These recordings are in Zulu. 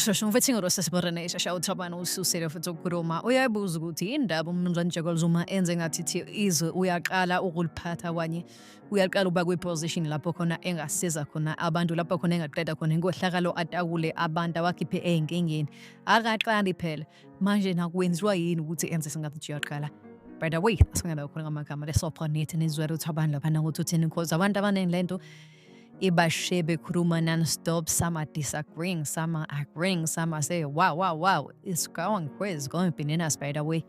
Shosho mfethu ngirose siborene shosho uthobana ususele futhi ukukhuluma uyayibuza ukuthi indaba umnumzane Jacob Zuma enze ngathi izwe uyaqala ukuliphatha kwanye uyaqala ukuba kwi-position lapho khona engasiza khona abantu lapho khona engaqeda khona inkohlakalo atakule abantu awakhiphe ey'nkingeni akaqali phela manje nakwenziwa yini ukuthi enze singathi nje uyaqala by the way asingena khona ngamagama lesopha nithi nizwele ukuthi abantu lapha nangokuthi uthini because abantu abaningi le nto ibashe bekhuluma non-stop some are disagreeing some are agreeing some are saying wow wow wow it's going crazy going bananas by the way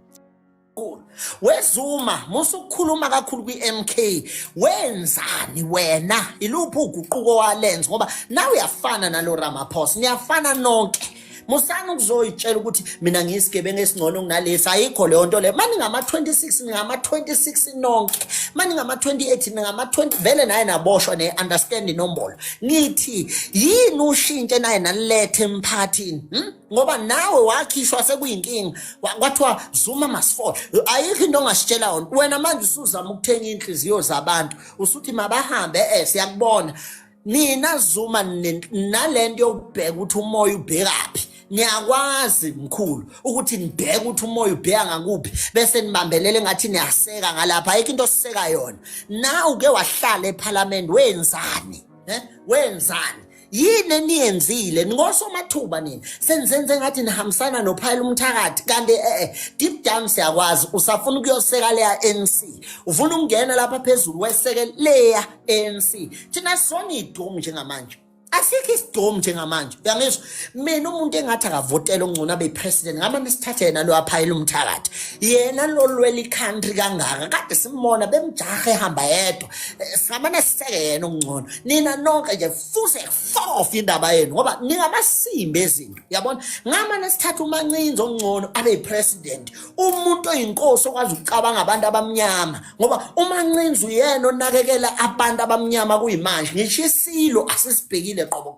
kakhulu wezuma musa ukukhuluma kakhulu kwi-mk wenzani wena iluphi uguquko walenza ngoba nawe uyafana nalo ramaphosa niyafana nonke musani ukuzoyitshela ukuthi mina ngiyisigebengu esingcono kunalesi ayikho leyo nto leyo mani ngama-26 ningama-26 nonke mani ngama-28 ningama-20 vele naye naboshwa ne-understand inombolo ngithi yini ushintshe naye nanilethe emphathini hmm? ngoba nawe wakhishwa sekuyinkinga kwathiwa zuma masifole ayikho into ongasitshela yona wena manje usuzama ukuthenga iy'nhliziyo zabantu usuthi mabahambe e siyakubona nina zuma nale nto yokubheka ukuthi umoya ubhekaphi niyakwazi mkhulu ukuthi nibheke ukuthi umoya ubheka ngakuphi bese nibambelele ngathi niyaseka ngalapha ayikho into osiseka yona na uke wahlala ephalamende wenzani um wenzani yini eniyenzile ningosomathuba nini senizenze ngathi nihambisana nophayela umthakathi kanti eh, eh deep down siyakwazi usafuna ukuyoseka leya ANC ufuna ukungena lapha phezulu weseke leya ANC thina sona idomu njengamanje asikho isidomu njengamanje uyangizwa mina umuntu engathi akavotela ongcono abe president ngama nesithathe yena lo aphayela umthakathi yena lo lwela i-country kangaka kade simbona bemjaha ehamba yedwa eh, samane siseke yena ongcono nina nonke nje fuse fof indaba yenu ngoba ningamasimbi ezinto yabona ngamane sithatha umancinzi ongcono abe yipresident umuntu oyinkosi okwazi ukucabanga abantu abamnyama ngoba umancinzi uyena onakekela abantu abamnyama kuyimanje ngisho isilo asisibhekile qobo